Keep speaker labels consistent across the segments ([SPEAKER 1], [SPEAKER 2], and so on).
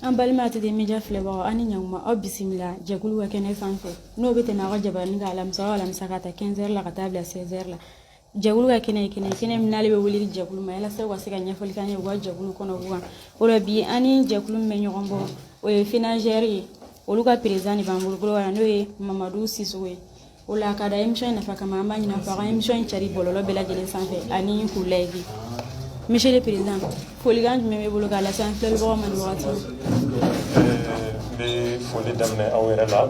[SPEAKER 1] an balima tɛ media filɛbagaw ani ɲankuma aw bisimila jɛkulu ka kɛnɛ fan fɛ n'o bɛ tɛmɛ aw ka jabarani kan alamisa o alamisa k'a ta 15 heures la ka taa bila 16 heures la jɛkulu ka kɛnɛ ye kɛnɛ ye kɛnɛ min n'ale bɛ wele jɛkulu ma yalasa u ka se ka ɲɛfɔli k'an ye u ka jɛkulu kɔnɔ u kan o la bi an ni jɛkulu min bɛ ɲɔgɔn bɔ o ye fenajer ye olu ka président de b'an bolo n'o ye mamadu sisoko ye o la ka da émission nafa kama an b'a ɲin'a fɛ a ka émission in cari bɔlɔlɔ bɛɛ lajɛlen sanfɛ ani k'u layiki monsieur le président folikan jumɛn b'i bolo k'a lase an filɛlibagaw ma nin wagati n
[SPEAKER 2] bɛ foli daminɛ aw yɛrɛ la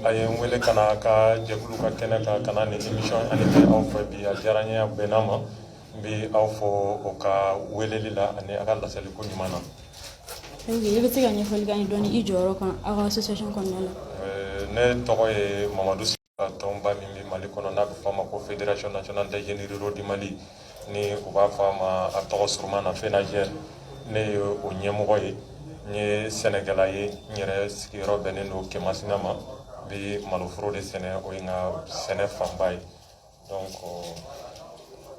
[SPEAKER 2] a ye n wele ka na ka jɛkulu ka kɛnɛ kan ka na nin émission in animer aw fɛ bi a diyara n ye a bɛnna ma n bɛ aw fo aw ka weleli la ani a ka laseliko ɲuman na
[SPEAKER 1] i bɛ se ka ɲɛfɔli k'an ye dɔɔni i jɔyɔrɔ kan aw ka association kɔnɔna la ne tɔgɔ
[SPEAKER 2] ye mamadu sisoko tɔnba min bɛ mali kɔnɔ n'a bɛ fɔ a ma ko fédération nationale des jeunes ruraux du mali ni u b'a fɔ a ma a tɔgɔ surunman na fenajer ne ye o ɲɛmɔgɔ ye n ye sɛnɛkɛla ye n yɛrɛ sigiyɔrɔ bɛnnen don kemasina ma n bɛ maloforo de sɛnɛ o ye n ka sɛnɛ fanba ye donc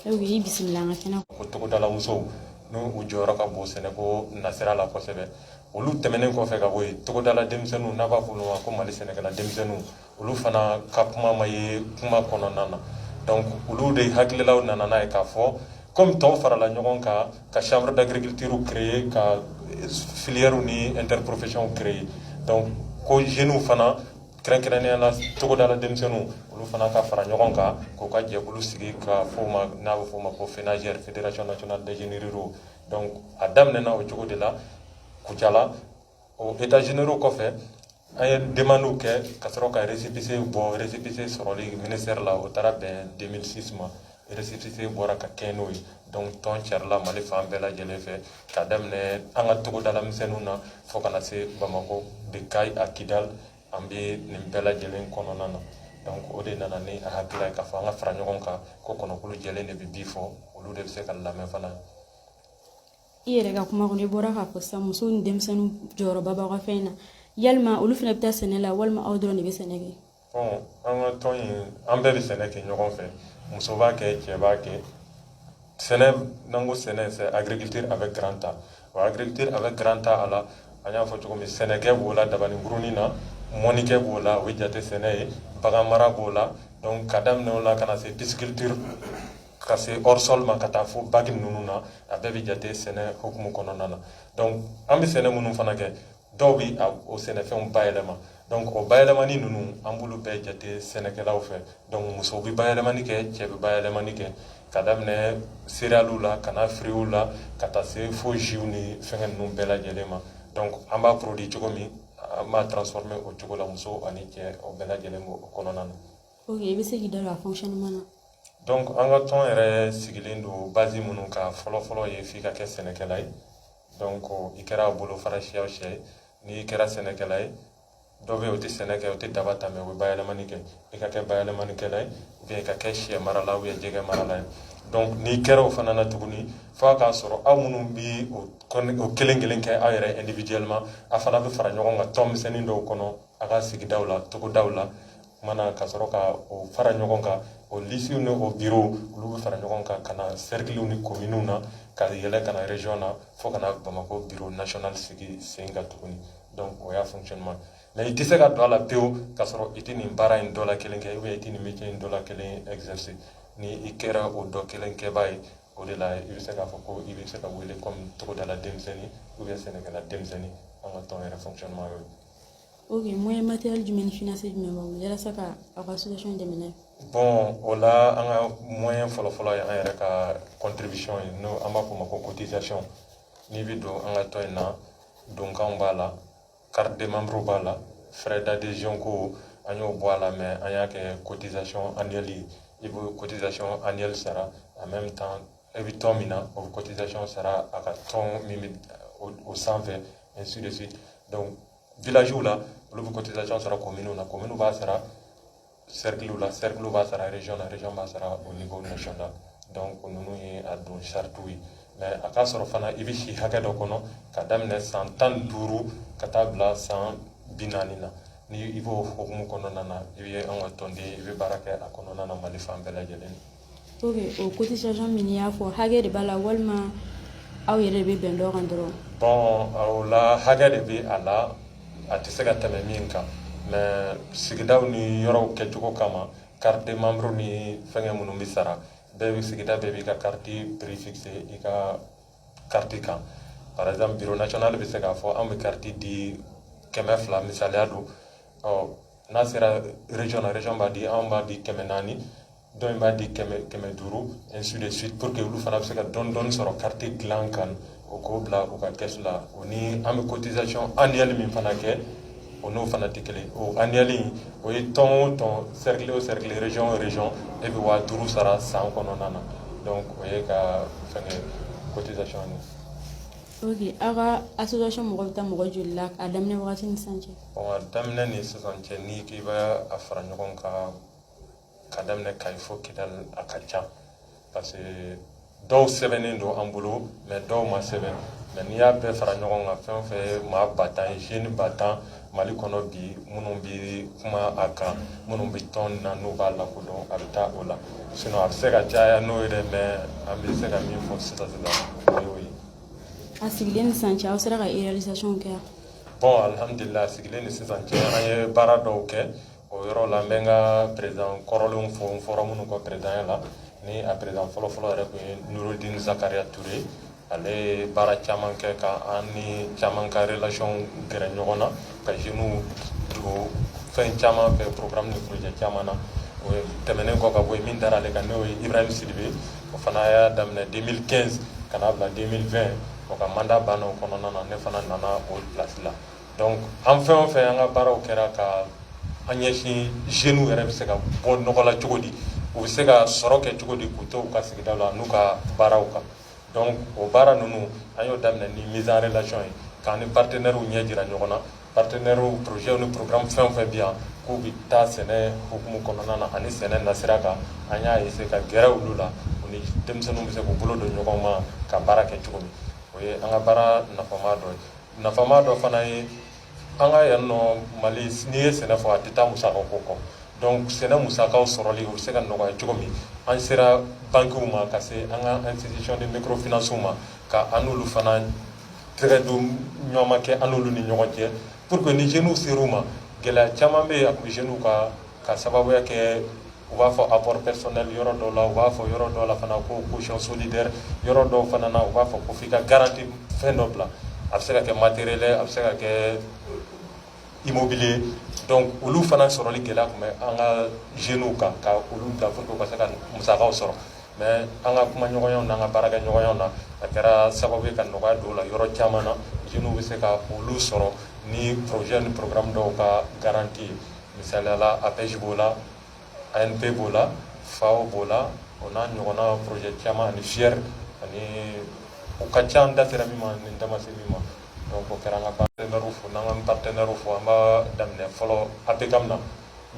[SPEAKER 1] i bisimila an ka kɛnɛ ko togodala
[SPEAKER 2] musow n'u jɔyɔrɔ ka bon sɛnɛ ko nasira la kosɛbɛ olu tɛmɛnen kɔfɛ ka bɔ yen togodala denmisɛnninw n'a b'a fɔ olu ma ko mali sɛnɛkɛla denmisɛnninw olu fana ka kuma ma ye kuma kɔnɔna na olu de hakililaw nana n'a ye k'a fɔ kɔmi tɔw farala ɲɔgɔn kan ka chambre d'agriculture créer ka filière ni interprofession créer ko jeunes fana kɛrɛnkɛrɛnnenya la togodala denmisɛnninw olu fana ka fara ɲɔgɔn kan k'u ka jɛkulu sigi ka fɔ o ma n'a bɛ fɔ o ma ko fenajer fédération nationale des jeunes ruraux donc a daminɛna o cogo de la kucala o états généraux kɔfɛ an ye demandiw kɛ ka sɔrɔ ka récépissé bɔ récépissé sɔrɔli ministère la o taara bɛn 2006 ma récépissé bɔra ka kɛ n'o ye donc tɔn carila mali fan bɛɛ lajɛlen fɛ ka daminɛ an ka togodala misɛnninw na fo ka na se bamakɔ de kayes à kidal an bɛ nin bɛɛ lajɛlen kɔnɔna na donc o de nana ni a hakilila ye k'a fɔ an ka fara ɲɔgɔn kan ko kɔnɔkulu jɛlen de bɛ bii fɔ olu de bɛ se ka lamɛn
[SPEAKER 1] fana i yɛrɛ ka kuma kɔnɔ i bɔra k'a fɔ sisan musow ni denmisɛnninw jɔyɔrɔba b'aw ka fɛn na yalima olu fana bɛ taa sɛnɛ la walima aw dɔrɔn de bɛ sɛnɛ kɛ an
[SPEAKER 2] ka tɔn in an bɛɛ bɛ sɛnɛ kɛ ɲɔgɔn fɛ muso b'a kɛ cɛ b'a kɛ sɛnɛ n'an ko sɛnɛ c'est agriculture avec grand a o agriculture avec grand a a la an y'a fɔ cogo min sɛnɛkɛ b'o la dabani kurunin na mɔnnikɛ b'o la o ye jate sɛnɛ ye bagan mara b'o la donc ka daminɛ o la ka na se pisciculture ka se hors sol ma ka taa fo baki ninnu na a bɛɛ bɛ jate sɛnɛ hukumu kɔnɔna na donc an bɛ sɛnɛ minnu fana kɛ dɔw bɛ o sɛnɛfɛnw bayɛlɛma donc o bayɛlɛmani ninnu an b'olu bɛɛ jate sɛnɛkɛlaw fɛ donc musow bɛ bayɛlɛmani kɛ cɛ bɛ bayɛlɛmani kɛ ka daminɛ céréales la ka na fruits la ka taa se fo jus ni fɛngɛ ninnu bɛɛ lajɛlen ma donc an b'a produit cogo min an b'a transformer o cogo la muso ani cɛ o bɛɛ lajɛlen b'o kɔnɔna na. ok i bɛ se k'i
[SPEAKER 1] da don a fonctionnement na. donc an ka
[SPEAKER 2] tɔn yɛrɛ sigilen don base minnu kan fɔlɔfɔlɔ ye f'i ka kɛ sɛnɛkɛla ye. donc i kɛra a bolofara siya o siya ye n'i kɛra sɛnɛkɛla ye dɔ bɛ yen o tɛ sɛnɛ kɛ o tɛ daba ta mais o bɛ bayɛlɛmani kɛ i ka kɛ bayɛlɛmanikɛla ye ou bien i ka kɛ sɛ marala ou bien jɛgɛ marala ye donc n'i kɛra o fana na tuguni f'a k'a sɔrɔ aw minnu bɛ o kelen kelen kɛ aw yɛrɛ individuellement a fana bɛ fara ɲɔgɔn kan tɔn misɛnnin dɔw kɔnɔ a ka sigidaw la togodaw la commune na ka sɔrɔ ka o fara ɲɔgɔn kan o lisiw ni o bureau olu bɛ fara ɲɔgɔn kan ka na cercles ni communes na ka yɛlɛ ka na région na fo ka na bamakɔ bureau national sigi sen kan tuguni donc o y'a fonctionnement mais i tɛ se ka don a la pewu ka sɔrɔ i tɛ nin baara in dɔ la kelen kɛ ou bien i tɛ nin métier in dɔ la kelen exercer ni i kɛra o dɔ kelen kɛbaa ye o de la i bɛ se k'a fɔ ko i bɛ se ka wele comme togodala denmisɛnnin ou bien sɛnɛkɛla denmisɛnnin an ka tɔn yɛrɛ fonctionnement y'o ye Ok moyen
[SPEAKER 1] matériel jumɛn ni financier jumɛn b'aw bolo yalasa ka aw ka association dɛmɛ n'a ye bon o
[SPEAKER 2] la an ka moyen fɔlɔfɔlɔ ye an yɛrɛ ka contribution ye n'o an b'a fɔ o ma ko cotisation n'i bɛ don an ka tɔn in na donkanw b'a la carte de membre b'a la frais d'adhésion ko an y'o bɔ a la mais an y'a kɛ cotisation annuelle ye i bɛ cotisation annuelle sara en même temps i bɛ tɔn min na o bɛ cotisation sara a ka tɔn min bɛ o sanfɛ ainsi de suite donc villages la olu bɛ cotisation sara commune na commune b'a sara cercle la cercle b'a sara région na région b'a sara au niveau national donc ninnu ye a don saratiw ye mais a k'a sɔrɔ fana i bɛ si hakɛ dɔ kɔnɔ ka daminɛ san tan ni duuru ka taa bila san bi naani na ni i b'o hukumu kɔnɔna na i bɛ an ka tɔnden i bɛ baara kɛ a kɔnɔna na mali fan bɛɛ lajɛlen
[SPEAKER 1] o cotisation min y'a fɔ
[SPEAKER 2] hakɛ de
[SPEAKER 1] b'a la walima aw yɛrɛ bɛ bɛn dɔ kan dɔrɔn o
[SPEAKER 2] la hakɛ de bɛ a la a tɛ se ka tɛmɛ min kan mais sigidaw ni yɔrɔw kɛcogo kama carte de membre ni fɛngɛ minnu bɛ sara bɛɛ bɛ sigida bɛɛ b'i ka carte prix fixer i ka carte kan par exemple bureau national bɛ se k'a fɔ an bɛ carte di kɛmɛ fila misaliya don ɔ n'a sera région na région b'a di anw b'a di kɛmɛ naani dɔ in b'a di kɛmɛ kɛmɛ duuru ainsi de suite pour que olu fana bɛ se ka dɔɔni dɔɔni sɔrɔ carte dilan kan o k'o bila u ka caisse la o ni an bɛ cotisation annuelle min fana kɛ o n'o fana tɛ kelen o annuelle in o ye tɔn o tɔn cercle o cercle région o région e bɛ waa duuru sara san kɔnɔna na donc o ye ka fɛngɛ cotisation ye.
[SPEAKER 1] ok aw ka association mɔgɔ bɛ taa mɔgɔ joli la a daminɛ wagati ni sisan cɛ. bon a daminɛ ni
[SPEAKER 2] sisan cɛ n'i k'i bɛ a fara ɲɔgɔn kan. ka daminɛ kayi fo kidali a ka ca parce que dɔw sɛbɛnnen don an bolo mais dɔw ma sɛbɛn mais n'i y'a bɛɛ fara ɲɔgɔn kan fɛn o fɛn ye maa ba tan ye jeunes ba tan mali kɔnɔ bi minnu bɛ kuma a kan minnu bɛ tɔn na n'u b'a lakodɔn a bɛ taa o la sinon a bɛ se ka caya n'o ye dɛ mais an bɛ se ka min fɔ sisan sisan o y'o ye a sigilen
[SPEAKER 1] ni sisan cɛ aw sera ka réalisation kɛ bon alihamudulila
[SPEAKER 2] a sigilen ni sisan cɛ an ye baara dɔw kɛ O yɔrɔ la n bɛ n ka président kɔrɔlenw fo n fɔra minnu kɔ présidentya la ni a président fɔlɔfɔlɔ yɛrɛ tun ye nouradine zakaria touré ale ye baara caman kɛ ka an ni caman ka relation gɛrɛ ɲɔgɔn na ka jeunes don fɛn caman fɛ programme ni projet caman na o tɛmɛnen kɔ ka bɔ yen min dara ale kan n'o ye ibrahim sidibe o fana y'a daminɛ 2015 ka n'a bila 2020 o ka mandat banna o kɔnɔna na ne fana nana o place la Donc an fɛn o fɛn an ka baaraw kɛra ka an ɲɛsin jeunes yɛrɛ bɛ se ka bɔ nɔgɔ la cogo di, u bɛ se ka sɔrɔ kɛ cogo di k'u to u ka sigida la n'u ka baaraw kan donc o baara ninnu an y'o daminɛ ni mise en relation ye k'an ni partenaires ɲɛ jira ɲɔgɔn na, partenaires projets ni programmes fɛn o fɛn bɛ yan k'u bɛ taa sɛnɛ hukumu kɔnɔna na ani sɛnɛ nasira kan an y'a essayer ka gɛrɛ olu la u ni denmisɛnninw bɛ se k'u bolo don ɲɔgɔn ma ka baara kɛ cogo min, o ye an ka baara nafama dɔ ye. nafama dɔ fana ye an ka yan nɔ mali n'i ye sɛnɛ fɔ a tɛ taa musaka ko kɔ donc sɛnɛ musakaw sɔrɔli o bɛ se ka nɔgɔya cogo min an sera bankiw ma ka se an ka institution de microfinancew ma ka an n'olu fana tɛgɛ don ɲɔgɔn ma kɛ an n'olu ni ɲɔgɔn cɛ pour que ni jeunes ser'u ma gɛlɛya caman bɛ yen a tun bɛ jeunes ka ka sababu kɛ u b'a fɔ apport personnel yɔrɔ dɔw la u b'a fɔ yɔrɔ dɔw la fana ko caution solidaire yɔrɔ dɔw fana na u b'a fɔ ko f'i ka garantie fɛn dɔ bila a bɛ se ka kɛ matériel a bɛ se ka kɛ immobilier donc olu fana sɔrɔli gɛlɛya tun bɛ an ka jeunes kan ka olu bila pour que u ka se ka musakaw sɔrɔ mais an ka kuma ɲɔgɔnyaw n'an ka baara kɛ ɲɔgɔnyaw na a kɛra sababu ye ka nɔgɔya don o la yɔrɔ caman na jeunes bɛ se ka olu sɔrɔ ni projet ni programme dɔw ka garantie ye Misaliya la APEJ b'o la, ANPE b'o la, FAO b'o la, o n'a ɲɔgɔnna projet caman ani FIER ani o ka ca n da sera min ma ni n da ma se min ma donc o kɛra an ka partenaires fo n'an k'an partenaires fo an b'a daminɛ fɔlɔ APCAM na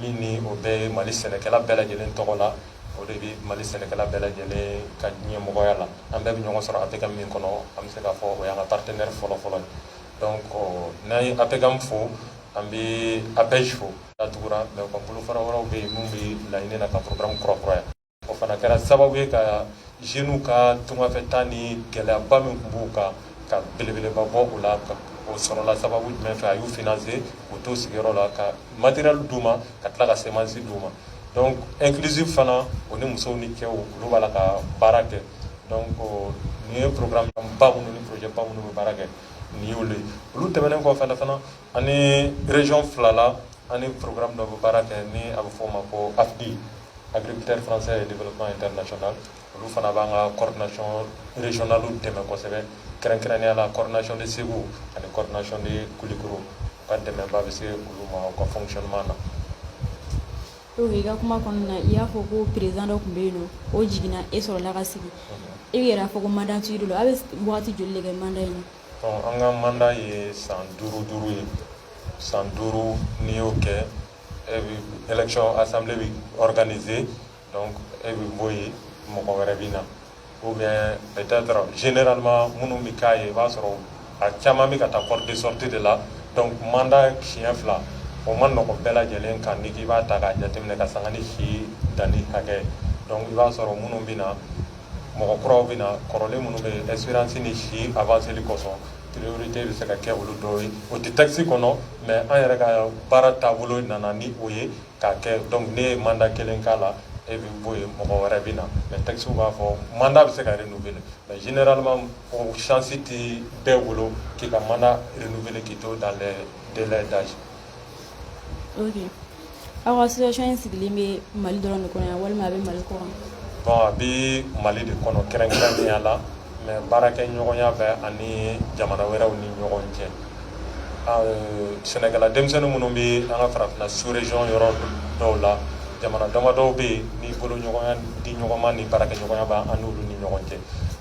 [SPEAKER 2] min ni o bɛ yen Mali sɛnɛkɛla bɛɛ lajɛlen tɔgɔ la o de bɛ Mali sɛnɛkɛla bɛɛ lajɛlen ka ɲɛmɔgɔya la an bɛɛ bɛ ɲɔgɔn sɔrɔ APCAM min kɔnɔ an bɛ se k'a fɔ o y'an ka partenaire fɔlɔ fɔlɔ ye donc n'an ye APCAM fo an bɛ APEJ fo datugura mais u ka bolofara wɛrɛw bɛ yen minnu bɛ laɲini na ka programme kura kuraya o fana kɛra sababu ye ka jeunes ka tungafɛtaa ni gɛlɛyaba min tun b'u kan ka belebeleba bɔ o la o sɔrɔla sababu jumɛn fɛ a y'u financer k'u to sigiyɔrɔ la ka matériel d'u ma ka tila ka semence d'u ma donc Inclusif fana o ni musow ni cɛw olu b'a la ka baara kɛ donc nin ye programme ba minnu ni projet ba minnu bɛ baara kɛ nin y'olu ye olu tɛmɛnen kɔ fana fana an ni région fila la an ni programme dɔ bɛ baara kɛ ni a bɛ fɔ o ma ko AFDI agriculteurs français et développement international olu fana b'an ka coordination régionale dɛmɛ kosɛbɛ kɛrɛnkɛrɛnnenya la coordination de Segu ani coordination de Kulikoro u ka dɛmɛba bɛ se olu ma u ka fonctionnement na
[SPEAKER 1] Donc i ka kuma kɔnɔna na i y'a fɔ ko président dɔ tun bɛ yen n'o jiginna e sɔrɔla ka sigi e yɛrɛ y'a fɔ ko mandat t'i bolo a bɛ wagati joli de kɛ mandat in na bon an ka mandat
[SPEAKER 2] ye san duuru duuru ye san duuru n'i y'o kɛ e bɛ élection assemblée bɛ organiser donc e bɛ bɔ yen mɔgɔ wɛrɛ bɛ na Ou bien peut être generalement minnu bɛ k'a ye i b'a sɔrɔ a caman bɛ ka taa porte de sortie de la donc mandat siɲɛ fila o ma nɔgɔ bɛɛ lajɛlen kan n'i k'i b'a ta k'a jateminɛ k'a sanga ni si danni hakɛ donc i b'a sɔrɔ minnu bɛ na mɔgɔ kuraw bɛ na kɔrɔlen minnu bɛ yen expérience ni si avancé li kosɔn priorité bɛ se ka kɛ olu dɔw ye o tɛ texte kɔnɔ mais an yɛrɛ ka baara taabolo nana ni o ye. K'a kɛ donc n'e ye mandat 1 k'a la e bɛ bɔ yen mɔgɔ wɛrɛ bɛ na mais texte b'a fɔ mandat bɛ se ka renouveler mais généralement o chance tɛ bɛɛ bolo k'i ka mandat renouveler k'i to dans les délais
[SPEAKER 1] d'âge ok aw ka association in sigilen bɛ Mali dɔrɔn de kɔnɔ yan walima a bɛ Mali kɔkan? bon a bɛ
[SPEAKER 2] Mali de kɔnɔ kɛrɛnkɛrɛnnenya la mais baarakɛɲɔgɔnya bɛ an ni jamana wɛrɛw ni ɲɔgɔn cɛ sɛnɛkɛla denmisɛnnin minnu bɛ an ka farafina sous-région yɔrɔ dɔw la jamana damadɔw bɛ yen ni bolo ɲɔgɔnya di ɲɔgɔn ma ni baarakɛɲɔgɔnya bɛ an n'olu ni ɲɔgɔn cɛ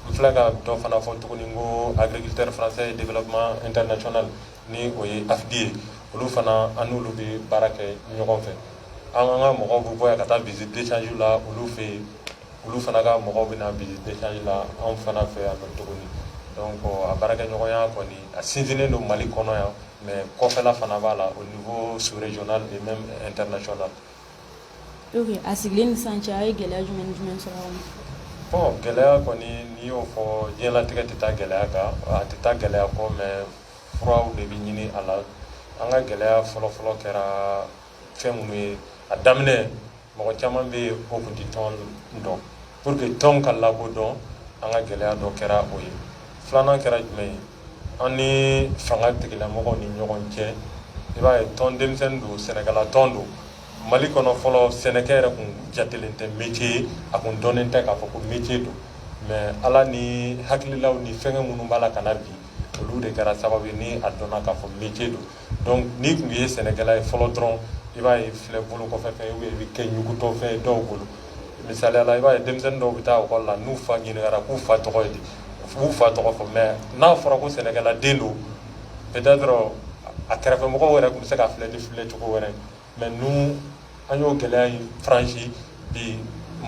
[SPEAKER 2] n filɛ ka dɔ fana fɔ tuguni ko agriculteurs français développement international ni o ye AFDI ye olu fana an n'olu bɛ baara kɛ ɲɔgɔn fɛ an ka mɔgɔw bɛ bɔ yan ka taa visite d'échange la olu fɛ yen olu fana ka mɔgɔw bɛ na visite d'échange la anw fana fɛ yan nɔ tuguni donc a baarakɛɲɔgɔnya kɔni a sinsinnen don Mali kɔnɔ yan mais kɔfɛla fana b'a la au niveau sous régional et même international
[SPEAKER 1] ok a sigilen ni sisan cɛ a ye gɛlɛya jumɛn ni jumɛn sɔrɔ a kɔnɔ bon
[SPEAKER 2] gɛlɛya kɔni n'i y'o fɔ diɲɛlatigɛ tɛ taa gɛlɛya kan a tɛ taa gɛlɛya kɔ mais furaw de bɛ ɲini a la an ka gɛlɛya fɔlɔfɔlɔ kɛra fɛn minnu ye a daminɛ Mɔgɔ caman bɛ yen ko tun tɛ tɔn dɔn pour que tɔn ka lakodɔn an ka gɛlɛya dɔ kɛra o ye filanan kɛra jumɛn ye an ni fanga tigilamɔgɔw ni ɲɔgɔn cɛ i b'a ye tɔn denmisɛnnin don sɛnɛkɛla tɔn don Mali kɔnɔ fɔlɔ sɛnɛkɛ yɛrɛ kun jatelen tɛ métier ye a kun dɔnnen tɛ k'a fɔ ko métier don mais ala ni hakililaw ni fɛnkɛ minnu b'a la ka na bi olu de kɛra sababu ye ni a dɔnna k'a fɔ métier don donc n'i tun ye sɛnɛkɛla ye fɔlɔ dɔrɔn i b'a ye filɛ bolo kɔfɛ fɛn ye i bɛ kɛ ɲugutɔ fɛn ye dɔw bolo misaliya la i b'a ye denmisɛnnin dɔw bɛ taa ekɔli la n'u fa ɲininkara k'u fa tɔgɔ ye di k'u fa tɔgɔ fɔ mais n'a fɔra ko sɛnɛkɛla den don peut-être a kɛrɛfɛmɔgɔ wɛrɛ tun bɛ se k'a filɛ ni filɛ cogo wɛrɛ mais nous an y'o gɛlɛya in franchi bi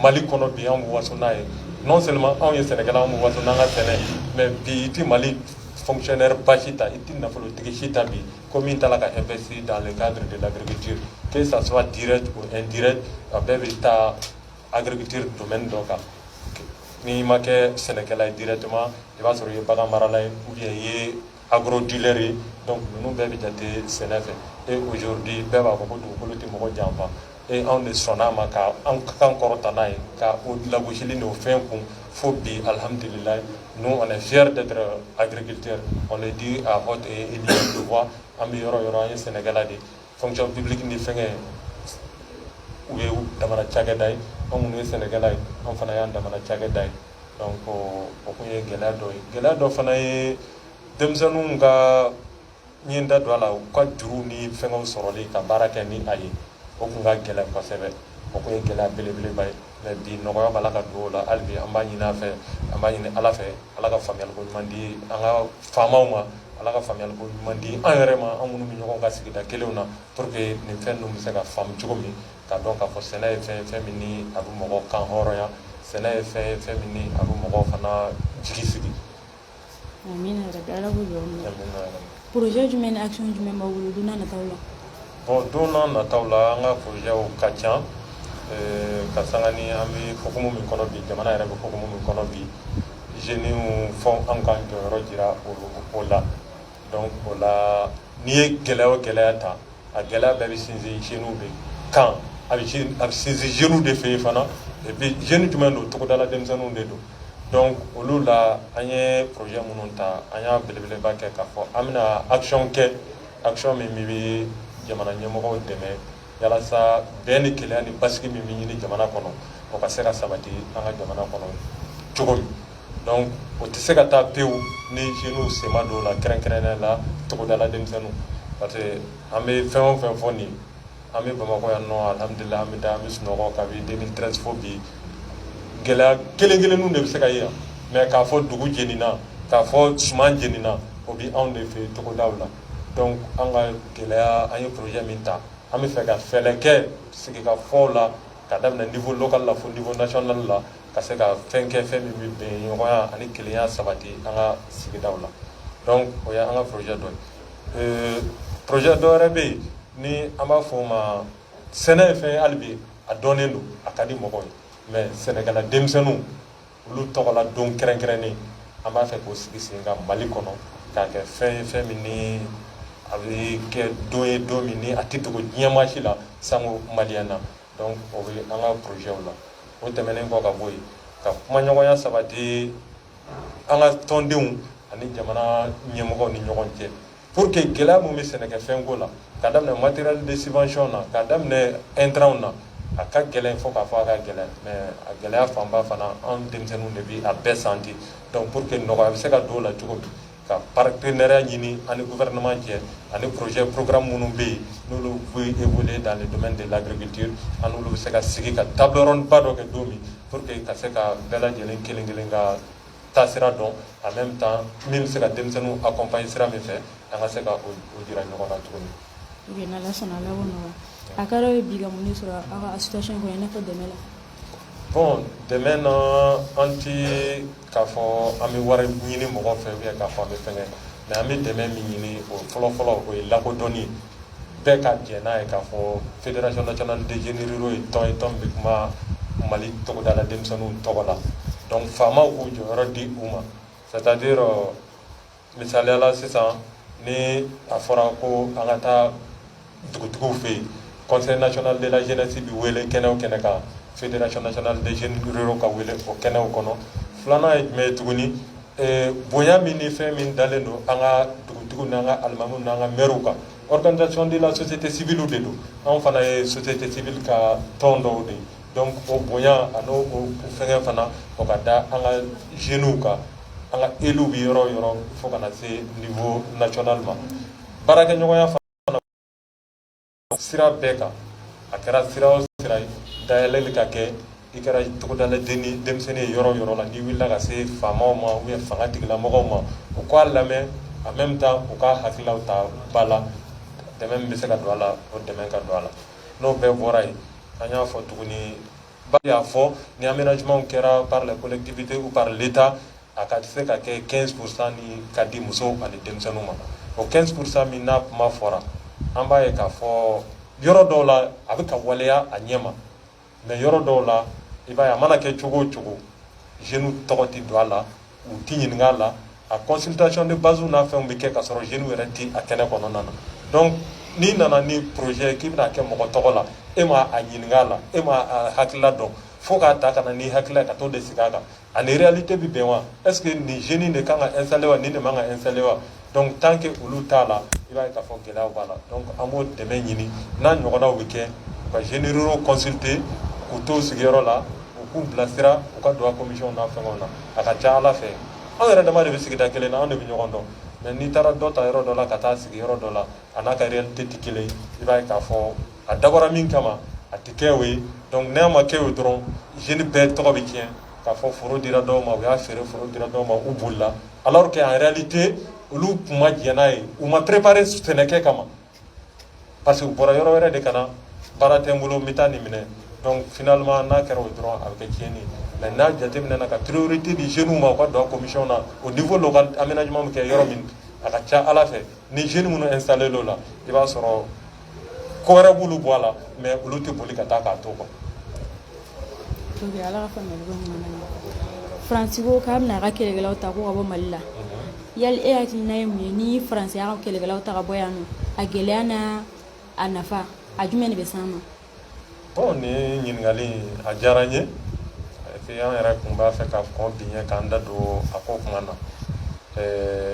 [SPEAKER 2] Mali kɔnɔ bi an bɛ waso n'a ye non seulement anw ye sɛnɛkɛla an bɛ waso n'an ka sɛnɛ mais bi i tɛ Mali fonctionnaire ba si ta i tɛ nafolotigi si ta bi ko min t'a la ka investir dans le cadre de l'agriculture que ça soit direct ou indirect a bɛɛ bɛ taa agriculture domaine dɔ kan n'i ma kɛ sɛnɛkɛla ye directement i b'a sɔrɔ i ye bagan marala ye ou bien i ye agro dealer ye donc ninnu bɛɛ bɛ jate sɛnɛ fɛ et aujourd'hui bɛɛ b'a fɔ ko dugukolo tɛ mɔgɔ janfa et anw de sɔnn'a ma ka an kan kɔrɔta n'a ye ka o lagosili n'o fɛn kun fo bi alhamdulilayi nous on est fiers d'être agriculteurs on le dit à haute et éloquente voix an bɛ yɔrɔ yɔrɔ an ye sɛnɛkɛla de fonction publique ni fɛngɛ u ye damana cakɛda ye an minnu ye sɛnɛkɛla ye an fana y'an damana cakɛda ye donc o kun ye gɛlɛya dɔ ye gɛlɛya dɔ fana ye denmisɛnninw ka n ye n da don a la u ka juruw ni fɛngɛw sɔrɔli ka baara kɛ ni a ye o kun ka gɛlɛn kosɛbɛ o kun ye gɛlɛya belebeleba ye mais bi nɔgɔya b'a la ka don o la hali bi an b'a ɲini a fɛ an b'a ɲini ala fɛ ala ka faamuyaliko ɲuman di an ka faamaw ma ala ka faamuyaliko ɲuman di an yɛrɛ ma an minnu bɛ ɲɔgɔn ka sigida kelenw na pour que nin fɛn ninnu bɛ se ka faamu cogo min k'a dɔn k'a fɔ sɛnɛ ye fɛn ye fɛn min ni a bɛ mɔgɔ kan hɔrɔnya sɛnɛ ye fɛn ye fɛn min ni a bɛ mɔgɔw fana jigi sigi Amina
[SPEAKER 1] yarabi Ala k'u jɔ n'u ye. Amina yarabi. Projet jumɛn ni action jumɛn b'aw bolo don n'a nataw la? Bon don n'a
[SPEAKER 2] nataw la an ka projetw ka ca eh, ka sanga ni an bɛ hukumu min kɔnɔ bi jamana yɛrɛ bɛ hukumu min kɔnɔ bi jeunes fɔ an k'an jɔyɔrɔ jira o o la donc o la n'i ye gɛlɛya o gɛlɛya ta a gɛlɛya bɛɛ bɛ sinsin jeunes de kan a bɛ sin a bɛ sinsin jeunes de fɛ yen fana et puis jeunes jumɛn don togodala denmisɛnninw de don donc olu la an ye projet minnu ta an y'a belebeleba kɛ k'a fɔ an bɛna action kɛ action min bɛ jamana ɲɛmɔgɔw dɛmɛ yalasa bɛn ni kelenya ni basigi min bɛ ɲini jamana kɔnɔ o ka se ka sabati an ka jamana kɔnɔ cogo min donc o tɛ se ka taa pewu ni jeunes sen ma don o la kɛrɛnkɛrɛnnenya la togodala denmisɛnninw parce que an bɛ fɛn o fɛn fɔ nin an bɛ bamakɔ yan nɔ alhamdulila an bɛ taa an bɛ sunɔgɔ kabini 2013 fo bi gɛlɛya kelen kelenninw de bɛ se ka ye yan mais k'a fɔ dugu jenina k'a fɔ suman jenina o bɛ anw de fɛ togodaw la donc an ka gɛlɛya an ye projet min ta an bɛ fɛ ka fɛɛrɛ kɛ sigikafɔw la ka daminɛ niveau local la fo niveau national la ka se ka fɛn kɛ fɛn min bɛ bɛn ɲɔgɔnya ani kelenya sabati an ka sigidaw la donc o ye an ka projet dɔ ye euh, projet dɔ wɛrɛ bɛ yen ni an b'a fɔ o ma sɛnɛ ye fɛn ye hali bi a dɔnnen don a ka di mɔgɔw ye mais sɛnɛkɛla denmisɛnninw olu tɔgɔla don kɛrɛnkɛrɛnnen an b'a fɛ k'o sigi sen kan mali kɔnɔ k'a kɛ fɛn ye fɛn min ni a bɛ kɛ don ye don min ni a tɛ dogo diɲɛ maa si la sango maliyɛn na donc o bɛ an ka projets la o tɛmɛnen kɔ ka bɔ yen ka kumaɲɔgɔnya sabati an ka tɔndenw ani jamana ɲɛmɔgɔw ni ɲɔgɔn cɛ pour que gɛlɛya min bɛ sɛnɛkɛfɛnko la ka daminɛ matériel de subvention na ka daminɛ intrants na a ka gɛlɛn fo k'a fɔ a ka gɛlɛn mais a gɛlɛya fanba fana an denmisɛnninw de bi a bɛɛ sentir donc pour que nɔgɔya bɛ se ka don o la cogo min ka partenariat ɲini an ni gouvernement cɛ ani projet programme minnu bɛ yen n'olu bɛ évoluer dans le domaine de l'agriculture an n'olu bɛ se ka sigi ka table ronde ba dɔ kɛ don min pour que ka se ka bɛɛ lajɛlen kelen kelen ka taasira dɔn en même temps min bɛ se ka denmisɛnninw accompagner sira min fɛ an ka se ka o jira ɲɔgɔn na tuguni. Ok
[SPEAKER 1] n'Ala sɔnna Ala b'o nɔgɔya a ka d'aw ye bi ka mun de sɔrɔ aw ka association kɔnɔ i n'a fɔ dɛmɛ la. Bon
[SPEAKER 2] dɛmɛ na an tɛ K'a fɔ an bɛ wari ɲini mɔgɔ fɛ ou bien k'a fɔ an bɛ fɛngɛ mais an bɛ dɛmɛ min ɲini o fɔlɔfɔlɔ o ye lakodɔnni ye bɛɛ ka jɛn n'a ye k'a fɔ fédération nationale des jeunes ruraux ye tɔn ye tɔn bɛ kuma mali togodala denmisɛnninw tɔgɔ la donc faamaw k'u jɔyɔrɔ di u ma c'est-à-dire misaliya la sisan ni a fɔra ko an ka taa dugutigiw fɛ yen conseil national de la jeunesse bɛ wele kɛnɛ o kɛnɛ kan fédération nationale des jeunes ruraux ka wele o kɛnɛw kɔnɔ filanan ye jumɛn ye tuguni eh, bonya min ni fɛn min dalen don an ka dugutigiw n'an ka alimamiw n'an ka mɛriw kan organisation de la société civile de don anw fana ye société civile ka tɔn dɔw de ye Donc o bonya ani fɛn fana o ka da an ka jeunes kan an ka élus bɛ yɔrɔ o yɔrɔ fo ka na se niveau national ma baarakɛɲɔgɔnya fana sira bɛɛ kan a kɛra sira o sira ye dayɛlɛli ka kɛ i kɛra togodala denmisɛnnin ye yɔrɔ o yɔrɔ la n'i wulila ka se faamaw ma ou bien fanga tigilamɔgɔw ma u k'a lamɛn en même temps u ka hakililaw ta ba la dɛmɛ min bɛ se ka don a la o dɛmɛ ka don a la n'o bɛɛ bɔra yen an y'a fɔ tuguni ba y'a fɔ ni aménagement kɛra par les collectivités ou par l'état a ka se ka kɛ 15 pourcent ni ka di musow ani denmisɛnninw ma o 15 pourcent min n'a kuma fɔra an b'a ye k'a fɔ yɔrɔ dɔw la a bɛ ka waleya a ɲɛ ma mais yɔrɔ dɔw la i b'a ye a mana kɛ cogo o cogo jeunes tɔgɔ tɛ don a la u tɛ ɲininka a la a consultation de base n'a fɛnw bɛ kɛ ka sɔrɔ jeunes yɛrɛ tɛ a kɛnɛ kɔnɔna na donc n'i nana ni projet k'i bɛna kɛ mɔgɔ tɔgɔ la e ma a ɲininka a la e ma a hakilila dɔn fo k'a ta ka na n'i hakilila ka t'o de sigi a kan a ni réalité bɛ bɛn wa est ce que nin jeune de kan ka installer wa nin de man ka installer wa donc tant que olu t'a la i b'a ye k'a fɔ gɛlɛyaw b'a la donc an b'o dɛmɛ ɲini n'a ɲɔgɔnnaw bɛ kɛ u ka jeunes ruraux consulter k'u to sigiyɔrɔ la u k'u bilasira u ka don a commission n'a fɛngɛw na a ka ca ala fɛ anw yɛrɛ dama de bɛ sigida kelen na anw de bɛ ɲɔgɔn dɔn mais n'i taara dɔ ta yɔrɔ dɔ la ka taa sigi yɔrɔ dɔ la a n'a ka réalité tɛ kelen ye i b'a ye k'a fɔ a dabɔra min kama a tɛ kɛ o ye donc n'a ma kɛ o dɔrɔn jeune bɛɛ tɔgɔ bɛ tiɲɛ k'a fɔ foro dira dɔw ma u y'a feere foro dira dɔw ma u bolila ala kɛ a yɛrɛli tɛ olu tun ma jɛnɛ ye u ma perepre sɛnɛkɛ kama parce que u bɔra yɔrɔ wɛrɛ de ka na baara tɛ n bolo bɛ taa nin minɛ dɔnku finalilama n'a kɛra o dɔrɔn a bɛ kɛ tiɲɛni mɛ n'a jateminɛ na ka tiriururi tɛ di zw ma u ka dɔn komiy na o nin fɔ ka anmina ɲuman kɛ yɔrɔ min a ka ca ala fɛ ni z minnu n salen dɔ la i b'a sɔrɔ ko wɛrɛ b'olu bɔ a la mais olu tɛ boli ka taa k'a to quoi
[SPEAKER 1] faransi ko k'a bɛna a ka kɛlɛkɛlaw ta ko ka bɔ mali la mhm. yali e hakilina ye mun ye ni faransi y'a ka kɛlɛkɛlaw ta ka bɔ yan nɔ a gɛlɛya n'a nafa a jumɛn de bɛ s'an ma
[SPEAKER 2] bon nin ɲininkali a diyara n ye et puis an yɛrɛ kun b'a fɛ ka kɔn bi ɲɛ k'an da don a ko kuma na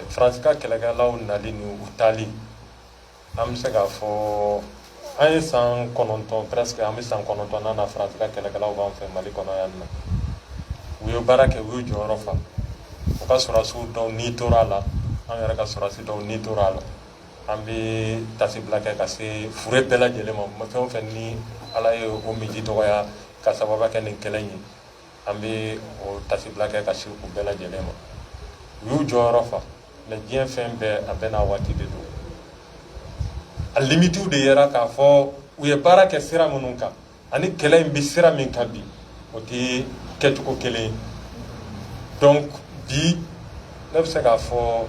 [SPEAKER 2] faransi ka kɛlɛkɛlaw nali ni u taali An bɛ se k'a fɔ an ye san kɔnɔntɔn presque an bɛ san kɔnɔntɔn na na Faransi ka kɛlɛkɛlaw b'an fɛ Mali kɔnɔ yan nɔ u ye baara kɛ u y'u jɔyɔrɔ fa u ka sɔrɔdasiw dɔw ni tora a la an yɛrɛ ka sɔrɔdasi dɔw ni tora a la an bɛ taasibila kɛ ka se fure bɛɛ lajɛlen ma fɛn o fɛn ni Ala ye o minji dɔgɔya k'a sababu kɛ nin kɛlɛ in ye an bɛ o tasibila kɛ ka se u bɛɛ lajɛlen ma u y'u jɔyɔrɔ fa mais diɲɛ fɛn bɛɛ a bɛɛ n'a waati de don a limitiw de yera k'a fɔ u ye baara kɛ sira minnu kan ani kɛlɛ in bɛ sira min kan bi o tɛ kɛcogo kelen ye donc bi ne bɛ se k'a fɔ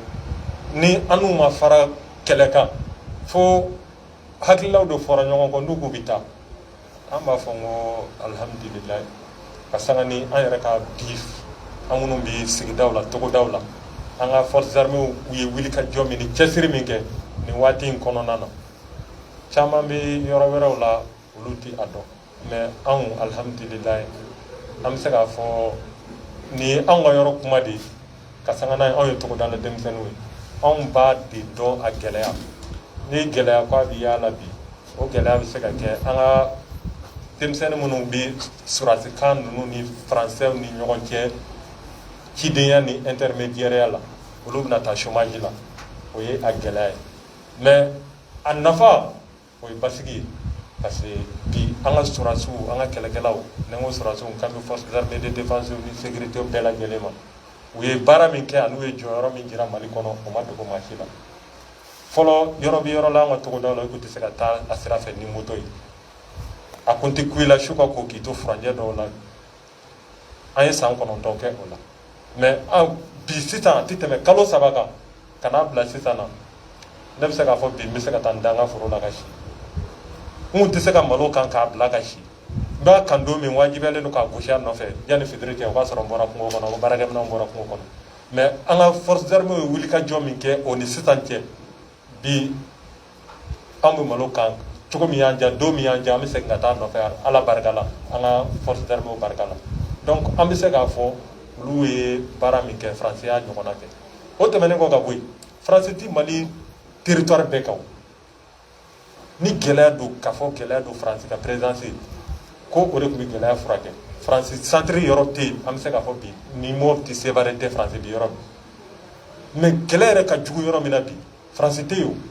[SPEAKER 2] ni an n'u ma fara kɛlɛ kan fo hakililaw de fɔra ɲɔgɔn kɔ n'u k'u bɛ taa an b'a fɔ n ko alihamudulila ka sanga ni an yɛrɛ ka bi an minnu bɛ sigidaw la togodaw la an ka forces armées u ye wulikajɔ min ni cɛsiri min kɛ nin waati in kɔnɔna na caman bɛ yɔrɔ wɛrɛw la olu tɛ a dɔn mais anw alihamudulila an bɛ se k'a fɔ nin ye anw ka yɔrɔ kuma de ye ka sanga n'a ye anw ye togoda la denmisɛnninw ye anw b'a de dɔn a gɛlɛya ni gɛlɛya ko a bɛ y'a la bi o gɛlɛya bɛ se ka kɛ an ka denmisɛnnin minnu bɛ surasikan ninnu ni faransɛw ni ɲɔgɔn cɛ cidenya ni intermédiaireya la olu bɛna taa chômage la o ye a gɛlɛya ye mais a nafa o ye basigi ye parce que bi an ka surasiw an ka kɛlɛkɛlaw ni n ko surasiw n kan bɛ force d'armée de défense ni sécurité bɛɛ lajɛlen ma u ye baara min kɛ ani u ye jɔyɔrɔ min jira mali kɔnɔ o ma dogo maa si la fɔlɔ yɔrɔ bɛ yɔrɔ la an ka togodaw la i tun tɛ se ka taa a sira fɛ ni moto ye a kun tɛ ku i la su ka ko k'i to furanjɛ dɔw la an ye san kɔnɔntɔn kɛ o la mais bi sisan a tɛ tɛmɛ kalo saba kan ka n'a bila sisan na ne bɛ se k'a fɔ bi n bɛ se ka taa n da n ka foro la ka si n kun tɛ se ka malo kan k'a bila ka si n b'a kan don min wajibiyalen don k'a gosi a nɔfɛ yanni fitiri cɛ o b'a sɔrɔ n bɔra kungo kɔnɔ o baarakɛminɛnw bɔra kungo kɔnɔ mais an ka force d'armée ye wulikajɔ min kɛ o ni sisan cɛ bi an bɛ malo kan cogo min y'an diya don min y'an diya an bɛ segin ka taa nɔfɛ ala barika la an ka force d'armée barika la donc an bɛ se k'a fɔ olu ye baara min kɛ faransi y'a ɲɔgɔnna kɛ o tɛmɛnen kɔ ka bɔ yen faransi ti mali territoire bɛɛ kan ni gɛlɛya don k'a fɔ gɛlɛya don faransi ka présence ko o de tun bɛ gɛlɛya furakɛ faransi centre yɔrɔ tɛ yen an bɛ se k'a fɔ bi ni mopti sevare tɛ faransi bi yɔrɔ min mais kɛlɛ yɛrɛ ka jugu yɔrɔ min na bi faransi tɛ yen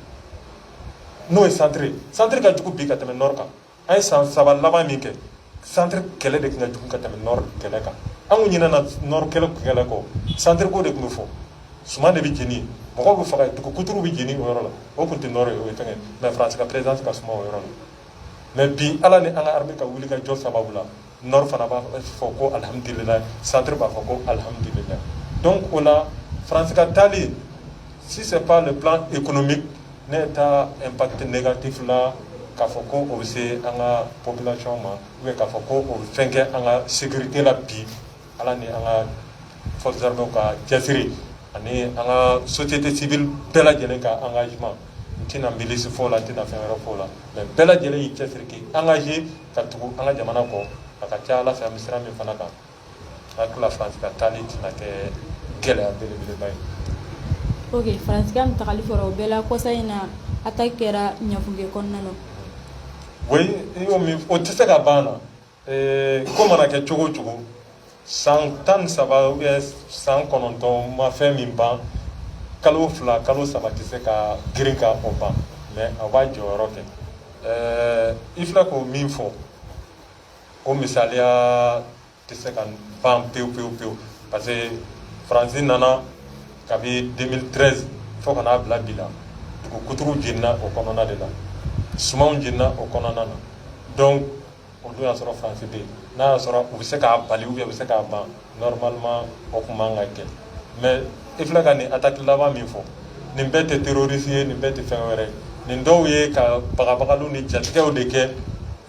[SPEAKER 2] n'o ye centre centre ka jugu bi ka tɛmɛ nord kan an ye san saba laban min kɛ centre kɛlɛ de tun ka jugu ka tɛmɛ nord kɛlɛ kan an kun ɲinɛna nord kɛlɛ kɛlɛ kɔ centre ko de tun bɛ fɔ suman de bɛ jeni mɔgɔw bɛ faga dugu kuturu bɛ jeni o yɔrɔ la o tun tɛ nord ye o ye fɛngɛ mais France ka présence ka suma o yɔrɔ la mais bi ala ni an ka armée ka wulikajɔ sababu la Nɔri fana b'a fɔ ko alihamdulila sari b'a fɔ ko alihamdulila don o la faransi ka taalen sisan k' de bila e kɔnɔ min ne ye taa npte ne ka tef k'a fɔ ko o bɛ se an ka pbiyɔn ma u k'a fɔ ko o bɛ fɛn kɛ an ka segurike la bi ala ni an ka fɔzw ka cɛsiri ani an ka sosote tɛ sibi bɛɛ lajɛlen ka an ka ɲuman n tɛna nbasi fɔ la n tɛna fɛn wɛrɛ' la mɛ bɛɛ lajɛlen y'i cɛsiri an ka ka tugu an ka jamana kɔ a ka ca ala fɛ an bɛ sira min fana kan n hakili la faransi ka taali tɛna kɛ gɛlɛya belebeleba ye ok
[SPEAKER 1] faransi ka tagali fɔra o bɛɛ la kɔsa in na attaque kɛra ɲafunke kɔnɔna
[SPEAKER 2] na oui o tɛ se ka ban na ko mana kɛ cogo o cogo san tan ni saba ou bien san kɔnɔntɔn ma fɛn min ban kalo fila kalo saba tɛ se ka girin ka o ban mais a b'a jɔyɔrɔ kɛ ɛɛ i filɛ k'o min fɔ o misaliya tɛ se ka ban pewu pewu pewu parce que faransi nana kabi 2013 fo ka n'a bila bi la dugu kuturuw jenina o kɔnɔna de la sumanw jenina o kɔnɔna na donc o don y'a sɔrɔ faransi bɛ yen n'a y'a sɔrɔ u bɛ se k'a bali ou bien u bɛ se k'a ban normalement o tun man ka kɛ mais i filɛ ka nin attaque laban min fɔ nin bɛɛ tɛ terroriste ye nin bɛɛ tɛ fɛn wɛrɛ ye nin dɔw ye ka bagabagaliw ni jatigɛw de kɛ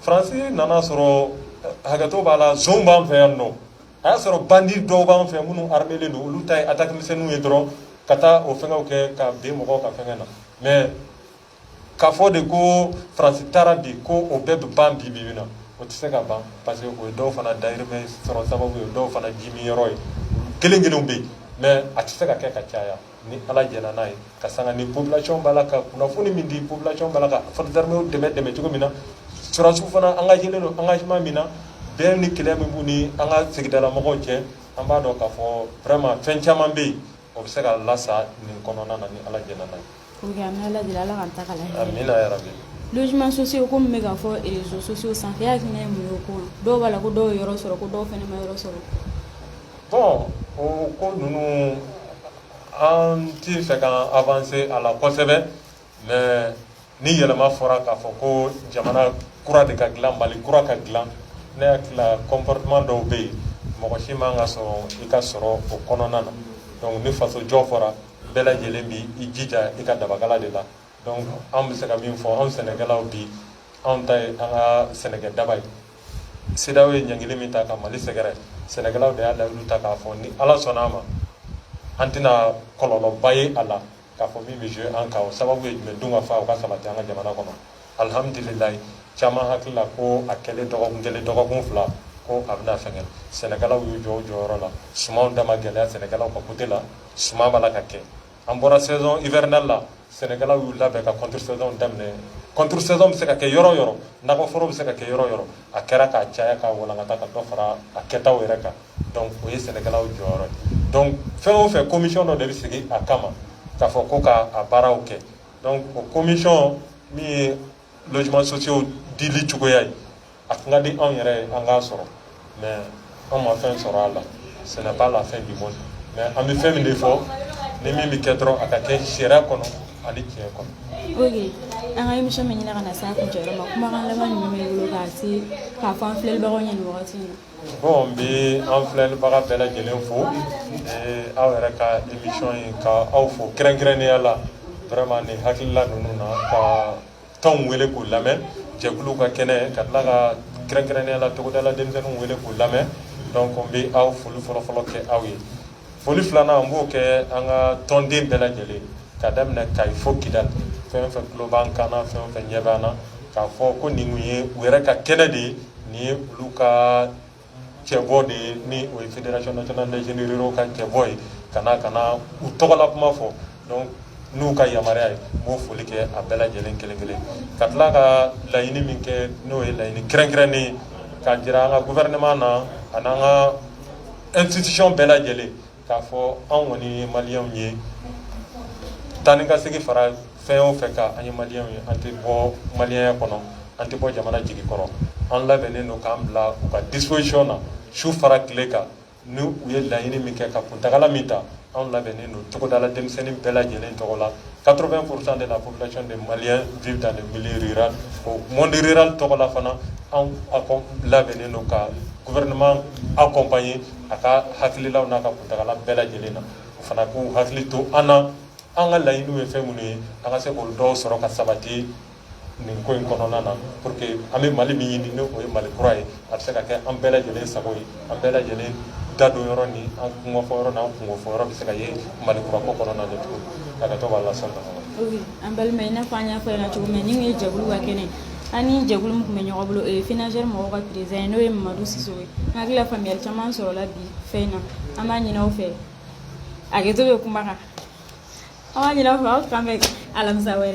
[SPEAKER 2] faransi nana sɔrɔ hakɛto b'a la zone b'an fɛ yan nɔ a y'a sɔrɔ bandi dɔw b'an fɛ minnu armélen don olu ta ye attaque misɛnninw ye dɔrɔn ka taa o fɛnw kɛ ka bin mɔgɔw ka fɛn na mais k'a fɔ de ko faransi taara bi ko o bɛɛ bɛ ban bi bi na o tɛ se ka ban parce que o ye dɔw fana dayirimɛ sɔrɔ sababu ye dɔw fana jimi yɔrɔ ye kelen kelenw bɛ yen mais a tɛ se ka kɛ ka caya ni ala jɛna n'a ye ka sanga ni population b'a la ka kunnafoni min di population b'a la ka forces armées dɛmɛ dɛmɛ cogo min na sɔrɔdasiw fana engagelen don engagement min na bɛn ni kɛlɛ min b'u ni an ka sigidala mɔgɔw cɛ an b'a dɔn k'a fɔ vraiment fɛn caman bɛ yen o bɛ se ka lasa nin kɔnɔna na ni ala jɛna n'a ye
[SPEAKER 1] ala ka taga
[SPEAKER 2] logements sociaux
[SPEAKER 1] komi bɛ ka fɔ réseaux sociaux sanfɛ e hakilina ye mun ye o ko la dɔw b'a la ko dɔw ye yɔrɔ sɔrɔ ko dɔw fana ma yɔrɔ
[SPEAKER 2] sɔrɔ bon o ko ninnu an t fɛ ka avancer a la kosɛbɛ mais ni yɛlɛma fɔra k'a fɔ ko jamana kura de ka dilan mali kura ka dilan ne hakili la comportement dɔw bɛ yen mɔgɔ si man ka sɔrɔ i ka sɔrɔ o kɔnɔna na donc ni faso jɔ fɔra bɛɛ lajɛlen bi i jija i ka dabakala de la donc an bɛ se ka min fɔ anw sɛnɛkɛlaw bi anw ta ye an ka sɛnɛkɛ daba ye CEDEAO ye ɲangili min ta ka mali sɛgɛrɛ sɛnɛkɛlaw de y'a layidu ta k'a fɔ ni ala sɔnna a ma an tɛna kɔlɔlɔba ye a la k'a fɔ min bɛ jouer an kan o sababu ye jumɛn dun ka fa o ka sabati an ka jamana kɔnɔ alihamudulilayi caman hakili la ko a kɛlen dɔgɔkun kelen dɔgɔkun fila ko a bɛna fɛngɛ sɛnɛkɛlaw y'u jɔ u jɔyɔrɔ la sumanw da ma gɛlɛya sɛnɛkɛlaw ka côté la suman b'a la ka kɛ an bɔra saison hivernale la sɛnɛkɛlaw y'u labɛn ka contre saison daminɛ contre saison bɛ se ka kɛ yɔrɔ o yɔrɔ nakɔforo bɛ se ka kɛ yɔrɔ o yɔrɔ a kɛra k'a caya k'a walankata ka dɔ fara a kɛtaw yɛrɛ kan donc o ye sɛnɛkɛlaw jɔyɔrɔ ye donc fɛn o fɛn commission dɔ de bɛ sigi a kama k'a fɔ ko ka a baaraw kɛ donc o commission min ye logements sociaux dili cogoya ye a tun ka di anw yɛrɛ ye an k'a sɔrɔ mais anw ma fɛn sɔrɔ a la ce n'est pas la fin du monde mais an bɛ fɛn min de fɔ ni min bɛ kɛ dɔrɔn a ka kɛ sariya kɔnɔ ani tiɲɛ kɔnɔ. ok an ka
[SPEAKER 1] émission bɛ ɲini ka na se a kuncɛyɔrɔ ma kumakan laban jumɛn b'i bolo k'a se k'a fɔ an filɛlibagaw ɲɛna nin wagati in na. Bon n
[SPEAKER 2] bɛ an filɛbaga bɛɛ lajɛlen fo aw yɛrɛ ka émission in ka aw fo kɛrɛnkɛrɛnnenya la vraiment nin hakilila ninnu na ka tɔnw wele k'u lamɛn jɛkulu ka kɛnɛ ka tila ka kɛrɛnkɛrɛnnenya la togodala denmisɛnninw wele k'u lamɛn donc n bɛ aw foli fɔlɔfɔlɔ kɛ aw ye foli filanan n b'o kɛ an ka tɔnden bɛɛ lajɛlen ka daminɛ kayi fo kidali fɛn o fɛn tulo b'an kan na fɛn o fɛn ɲɛ b'an na k'a fɔ ko nin ye u yɛrɛ ka kɛnɛ de ye nin ye olu ka cɛbɔ de ye ni o ye fédération nationale des jeunes ruraux ka cɛbɔ ye ka na ka na u tɔgɔla kuma fɔ donc n'u ka yamaruya ye n b'o foli kɛ a bɛɛ lajɛlen kelen kelen ka tila ka laɲini min kɛ n'o ye laɲini kɛrɛnkɛrɛnnen ye k'a jira an ka gouvernement na ani an ka institution bɛɛ lajɛlen k'a fɔ anw kɔni ye maliyɛnw ye taa ni ka segin fara fɛn o fɛn kan an ye maliyɛnw ye an tɛ bɔ maliyɛnya kɔnɔ an tɛ bɔ jamana jigi kɔrɔ an labɛnnen don k'an bila u ka disposition na su fara tile kan ni u ye laɲini min kɛ ka kuntagala min ta anw labɛnnen don togodala denmisɛnnin bɛɛ lajɛlen tɔgɔ la 80 pourcent de la population des maliens vivent dans le milieu rural o monde rural tɔgɔ la fana anw labɛnnen don ka gouvernement accompagner a ka hakililaw n'a ka kuntagala bɛɛ lajɛlen na o fana k'u hakili to an na an ka laɲiniw ye fɛn minnu ye an ka se k'olu dɔw sɔrɔ ka sabati nin ko in kɔnɔna na pour que an bɛ mali min ɲini n'o ye mali kura ye a bɛ se ka kɛ an bɛɛ lajɛlen sago ye an bɛɛ lajɛlen da don yɔrɔ ni an kunkofɔ yɔrɔ n'an kunkofɔ yɔrɔ bɛ se ka ye mali kura ko kɔnɔna na cogo min ka kɛ to b'a lasɔn an balima i n'a fɔ an y'a fɔ yan cogo min
[SPEAKER 1] na nin ye jɛkulu ka kɛnɛ an ni jɛkulu min tun bɛ ɲɔgɔn bolo o ye FENAJER mɔgɔw ka président ye n'o ye mamadu sisoko ye n hakili la faamuyali caman sɔrɔla bi fɛn in na an b'a ɲin'aw fɛ hakɛto bɛ kuma kan an b'a ɲin'aw fɛ aw k'an bɛn alamisa wɛrɛ